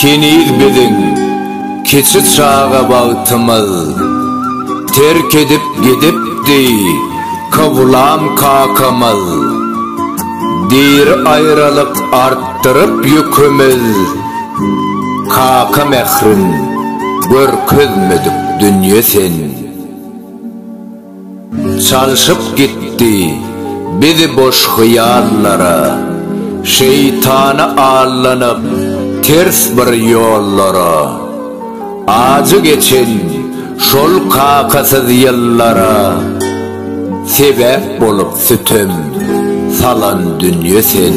Heniz biziň kiçi çaga bagtymyz Terk edip gidipdi Kowlam kakamyz Diri aýralyk artdyryp ýükümiz Kaka mährin görkezmedik dünýe sen. Çalşyp gitdi bizi boş hyýallara, Şeýtana allanyp ters bir ýollara. Ajy geçen şol kakasyz ýyllara, Sebäp bolup sütem salan dünýe sen.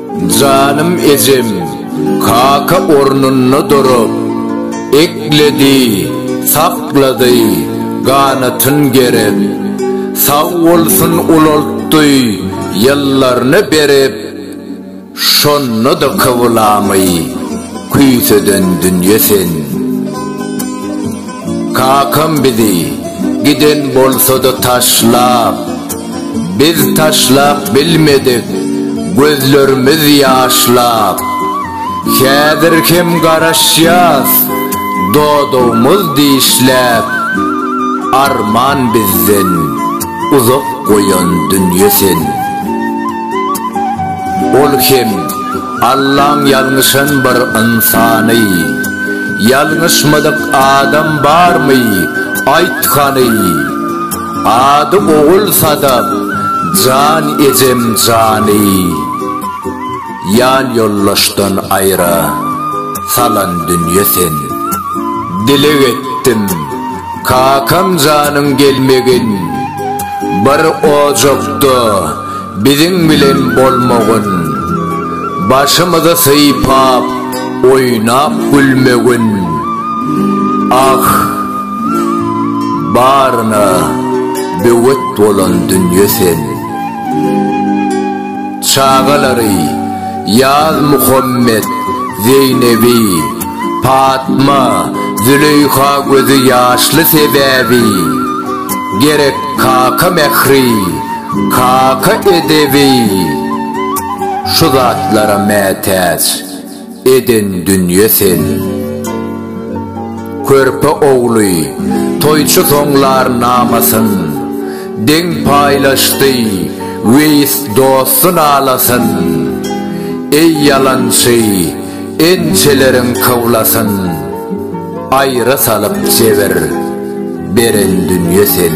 Janym ejem kaka ornunda durup, ekledi, saklady, ganatyn gerip, sag bolsun ulaltdy ýyllaryny berip, şonda-da kybylamy küýseden dünýe sen. Kakam bizi giden bolsa-da taşlap. Biz taşlap bilmedik gözlerimiz ýaşlap, Häzir hem garaşýas dodagymyz dişläp. Arman bizden uzak goýan dünýe sen. Ol hem Allaň ýalňyşan bir ynsany, Ýalňyşmadyk adam barmy, aýt hany? Ady ogul Sadap jan ejem jany Ýal ýoldaşdan aýra salan dünýe sen Dileg etdim kakam janyň gelmegin Bir ojakda Biziň bilen bolmagyn. Başymyzy sypap, oýnap gülmegin. Ah, baryna böwet bolan dünýe sen. Çagalary, Ýazmuhammet, Zeýnebi. Patma, Züleýha gözi ýaşly sebäbi, Gerek kaka mähri, kaka edebi, Şu zatlara mätäç eden dünýe seni. Körpe ogly, toýçy soňlar namasyn, Deň paýlaşdy Weýis dosty nalasyn. Eý ýalançy! Ençeleriň kawlasyn aýra salyp jebir beren dünýe sen.